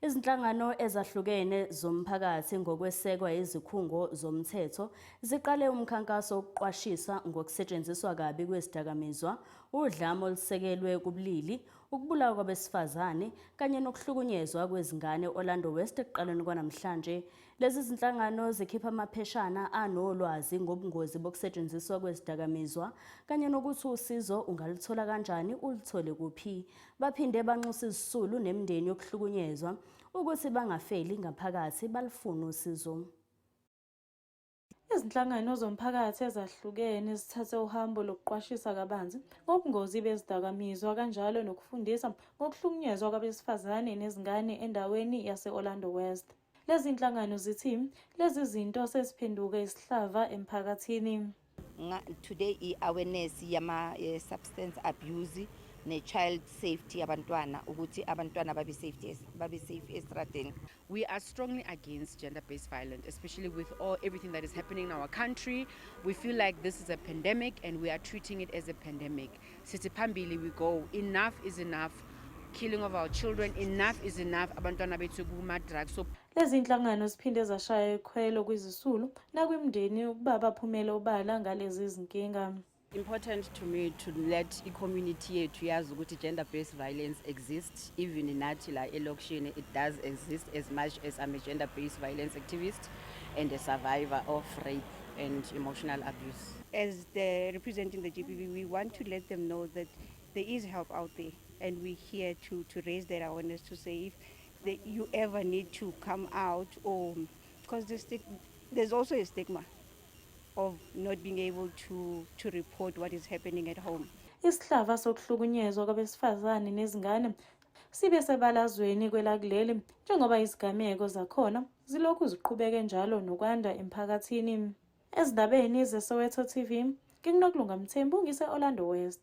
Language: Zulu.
Izinhlangano ezahlukene zomphakathi ngokwesekwa izikhungo zomthetho ziqale umkhankaso wokuqwashisa ngokusetshenziswa kabi kwezidakamizwa, udlame olusekelwe kubulili, ukubulawa kwabesifazane kanye nokuhlukunyezwa kwezingane Orlando West ekuqaleni kwanamhlanje. Lezi zinhlangano zikhipha amapheshana anolwazi ngobungozi bokusetshenziswa kwezidakamizwa kanye nokuthi usizo ungaluthola kanjani, uluthole kuphi. Baphinde banxusa izisulu nemndeni yokuhlukunyezwa ukuthi bangafeli ngaphakathi balifune usizo. Izinhlangano zomphakathi ezahlukene zithathe uhambo lokuqwashisa kabanzi ngobungozi bezidakamizwa kanjalo nokufundisa ngokuhlukunyezwa kwabesifazane nezingane endaweni yase-Orlando West. Lezi nhlangano zithi lezi zinto seziphenduke isihlava emphakathini. Today i-awareness yama-substance eh, abuse ne-child safety yabantwana ukuthi abantwana babe safety babe safe estradeni we are strongly against gender based violence especially with all everything that is happening in our country we feel like this is a pandemic and we are treating it as a pandemic sithi phambili we go enough is enough killing of our children enough is enough abantwana bethu kuma-drug so lezi nhlangano ziphinde zashaya ikhwelo kwizisulu nakwimndeni ukuba baphumele obala ngalezi zinkinga important to me to let i-community yethu yazi ukuthi gender-based violence exists even nathi la elokishini it does exist as much as i'm a gender-based violence activist and a survivor of rape and emotional abuse As the representing the GBV, we want to let them know that there is help out there, and we're here to, to raise that awareness to say if the, you ever need to come out, or because the stig- there's also a stigma of not being able to, to report what is happening at home. isihlava sokuhlukunyezwa kwabesifazane nezingane sibe sebalazweni kwelakuleli njengoba izigameko zakhona zilokhu ziqhubeke njalo nokwanda emphakathini Ezindabeni zeSoweto TV, nginginokulunga Mthembu ngise-Orlando West.